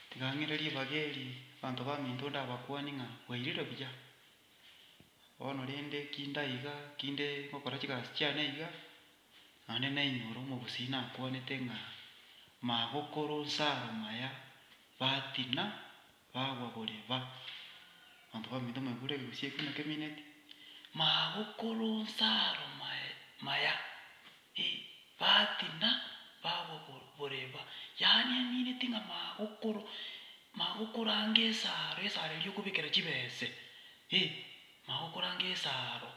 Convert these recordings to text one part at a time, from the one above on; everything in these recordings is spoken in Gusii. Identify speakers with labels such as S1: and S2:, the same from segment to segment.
S1: Tigang'ire ribaga eri abanto baminto ndabakuani ng'a bwairire buya. Bono rende ki ndaiga, ki nde gokora chigasi chiane iga, naende nainwe ore omobosii nakuanete ng'a magokoro nsaro maya batina bagwa bore ba. Abanto baminto mwaigure egegusii ekio naki emineti, magokoro nsaro maya. ee, baati na bagwa bo- boreba, yaani emineti ng'a magokoro magokoranga esaaro, esaaro eria okobekera chibese, ee, magokoranga esaaro.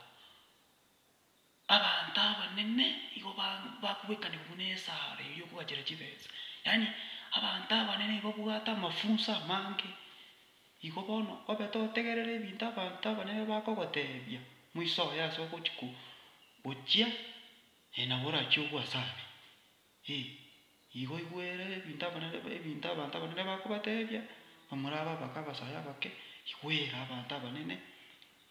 S1: Abanto abanene igo ba- bakobekanigwa buna esaaro eria okogachera chibese, yaani abanto abanene nigo babwate amafunso amange. Igo bono, obe totegerere ebinto abanto abanene bakogoteebia, moisoe ase ogochia gochia, ee, nabo orachie ogwe ase aria. Ee, igo igwere ebinto abanene ebinto abanto abanene bakobateebia, namorabe abake abasae abake, igwere abanto abanene,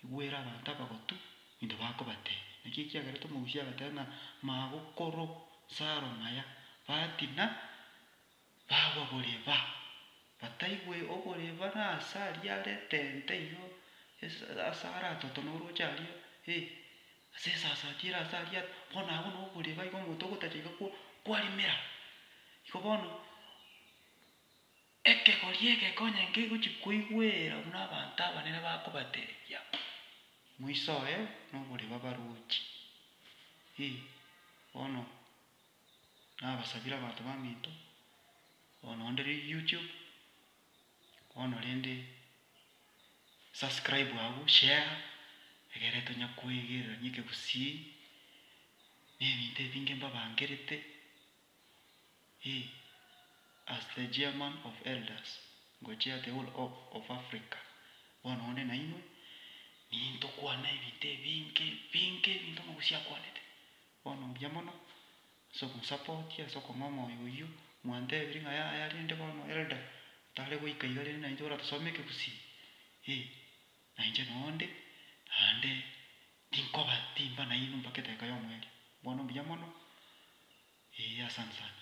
S1: igwere abanto abagotu ebinto bakobateebia. Naki ekiagerete omogusia agateba ng'a magokoro 'nsaro maya, batina. Bagwa boreba, bataigwe oboreba nase aria are tente igo ase are atoto na orooche aria, ee, ase esasa achia ere ase aria are, bono agwo noboreba igo omonto ogotacha iga kwa kwarimera. Igo bono, ekegori egekonye nkegochi koigwera buna abanto abanene bakobateebia, moisoe noboreba baroche, ee, bono nabasabire abanto baminto, bono onde riria youtube, bono rende subscribe abwo share, egere tonya koegererania ekegusii, na ebinto ebinge mbabangerete, eh, as the chairman of elders go chair the whole of of Africa, bono onde nainwe, nintokwana ebinto ebinge ebinge ebinto omogusi akwanete. Bono mbuya mono, ase ogosapotia ase okong'aa omoyo oyio, mwantebirie ng'a yaya rende bono Elder tare goika iga rende nainche oratasome ekegusii? Ee, nainche nonde, naende tinkoba timba nainwe mpaka edaika y'omoerio. Bono mbuya mono. Ee, asante sana.